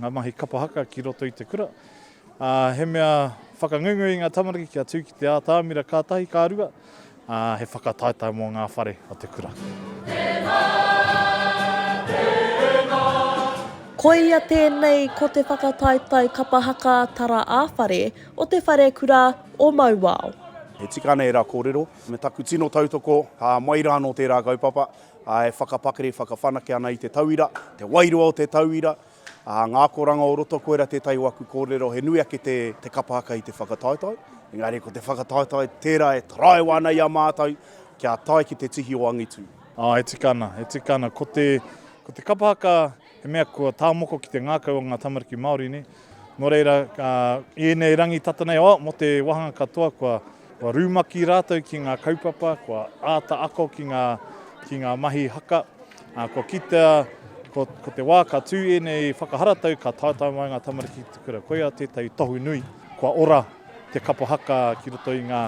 Ngā mahi kapa haka ki roto i te kura. Ā, he mea whakangungu i ngā tamariki kia tū ki te ātamira ka tahi, ka rua, ā, he whakataetae mō ngā whare o te kura. Tēnā, Koia tēnei ko te whakataetae kapa haka tara ā-whare o te Wharekura o Mauao. He tika ana ērā kōrero. Me taku tino tautoko, ka mai rā anō tērā kaupapa. e whakapakari, whakawhanake ana i te tauira, te wairua o te tauira, ā, ngā akoranga o roto, koirā tētahi o aku kōrero, he nui ake te, te kapa haka i te whakataetae, engari ko te whakataetae tērā e taraiwa ana i a mātou kia tae ki te tihi o angitu. Ā, e tika ana, e tika ana, ko te, ko te kapa haka, He mea kua tāmoko ki te ngākau o ngā tamariki Māori nei. Nō reira, i ēnei rangi tata nei, oh, mō te wāhanga katoa, kua, kua rūmaki rātou ki ngā kaupapa, kua āta ako ki ngā, ki ngā mahi haka. Uh, kua kitea, ko, ko te wā ka tū ēnei whakaharatau, ka taetae mai ngā tamariki ki te kura. Koia tētahi tohu nui, kua ora te kapa haka ki roto i ngā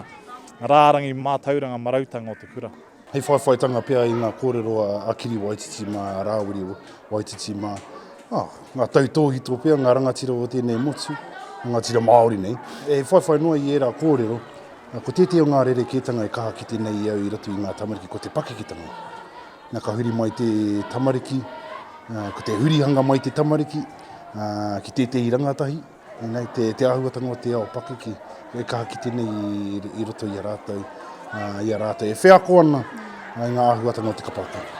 rārangi mātauranga marautanga o te kura. Hei whaiwhaitanga pea i ngā kōrero a Kiri Waititi mā, a Rāwiri Waititi mā, ah, ngā tautōhito pea, ngā rangatira o tēnei motu, rangatira Māori nei. E whaiwhai noa i ērā kōrero, ko tētahi o ngā rerekētanga e kaha kite nei i au i roto i ngā tamariki, ko te pakeketanga. Nā ka huri mai te tamariki, ko te hurihanga mai te tamariki ki tētahi rangatahi, Inei te te ahuatanga o te ao pakiki e kaha kite nei i roto i a ratou i a ratou e wheako ana i nga ahuatanga o te kapa kapa.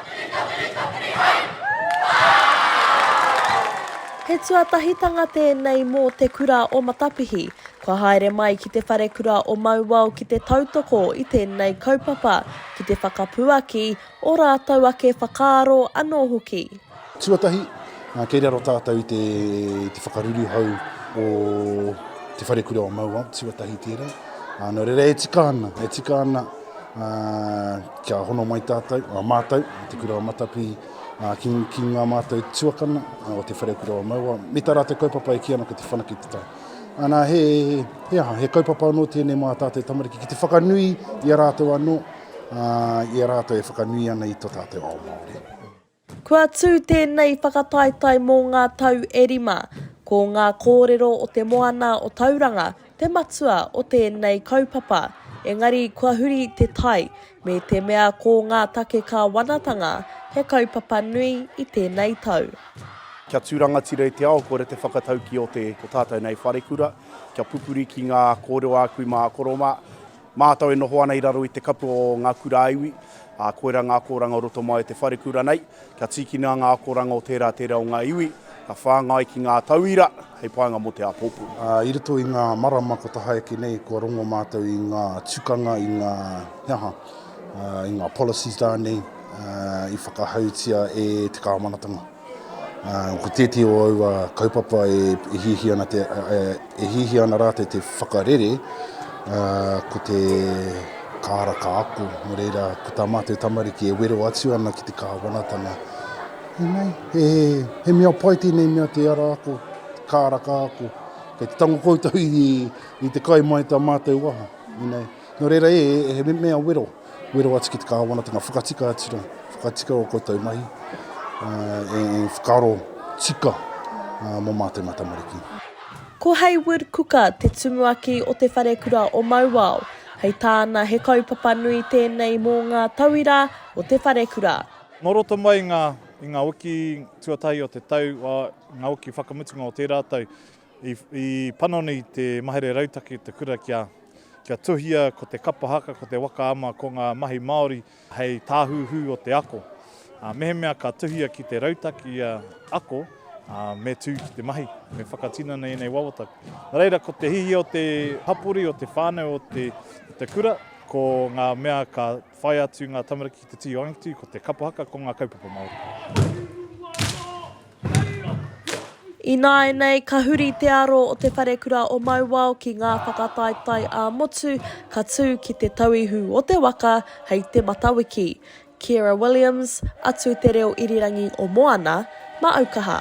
He tuatahitanga tēnei mō Te Kura o Matapihi. Kua haere mai ki Te Wharekura o Mauao ki te tautoko i tēnei kaupapa, ki te whakapuaki Ō rātou ake whakaaro anō hoki. Tuatahi, kei raro tātou i te whakaruruhau o Te Wharekura o Mauao, tuatahi tērā. Nō reira, e tika ana, e tika ana kia hono mai tātou, mātou, Te Kura o Matapi, ki, ki ngā mātou tuakana o Te Wharekura o Mauao, me tā rātou kaupapa e kī ana ko Te Whanake te Tai. Ana, he, he aha, he kaupapa anō tēnei mā tātou tamariki ki te whakanui i a rātou anō, i a rātou e whakanui ana i tō tātou ao Māori. Kua tū tēnei whakataetae mō ngā tau e rima, ko ngā kōrero o Te Moana o Tauranga te matua o tēnei kaupapa, engari kua huri te tai, me te mea ko ngā take kāwanatanga he kaupapa nui i tēnei tau. Kia tū rangatira i te ao, kore te whakatauki o te, o tātou nei wharekura, kia pupuri ki ngā kōrero āku mā a koro mā, Mātou e noho ana i raro i te kapu o ngā kura iwi, ā, koirā ngā akoranga o roto mai o te wharekura nei. Kia tīkina ngā akoranga o tērā tērā o ngā iwi, ka whāngai ki ngā tauira hei painga mō te āpōpū. I roto i ngā marama kua tahaeke nei, kua rongo mātou i ngā tukanga, i ngā, he aha, i ngā policies rānei i whakahautia e te kāwanatanga. Ko tētehi o aua kaupapa e hiahia ana te, e hiahia ana rātou te whakarere, ko te kāra ka ako. Nō reira, ko tā mātou tamariki e wero atu ana ki te Kāwanatanga, ēnei, he, he mea pai tēnei mea te ara ako, te kāra ka ako. Kei te tango koutou i, i te kai mai tā mātou waha, ēnei. Nō reira, ē, he mea wero. wero atu ki te Kāwanatanga, whakatika atu rā, whakatika o koutou mahi, uh, e, e whakaro tika uh, mō mātou mā tamariki. Ko Hayward Kuka te tumuaki o Te Wharekura o Mauao, hei tāna he kaupapa nui tēnei mō ngā tauira o Te Wharekura. Nō roto mai ngā, i ngā wiki tuatahi o te tau, ngā wiki whakamutunga o tērā tau, I panoni te mahere rautaki o te kura kia tuhia ko te kapa haka, ko te waka ama, ko ngā mahi Māori hei tāhuhu o te ako. Mehemea ka tuhia ki te rautaki ia ako, me tū ki te mahi, me whakatinana ēnei wawata. Nā reira, ko te hiahia o te hapori, o te whānau, o te kura, ko ngā mea ka whai atu ngā tamariki ki te tihi o angitu, ko te kapa haka, ko ngā kaupapa Māori. Ināianei, ka huri te aro o Te Wharekura o Mauao ki ngā whakataetae ā-motu ka tū ki te tauihu o te waka hei te Matawiki. Ciara Williams, Atu Te Reo Irirangi o Moana, Maaukaha.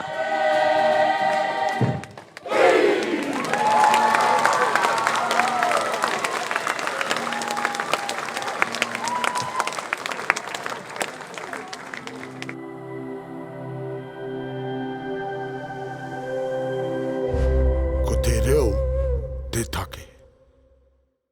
Ko te reo te take.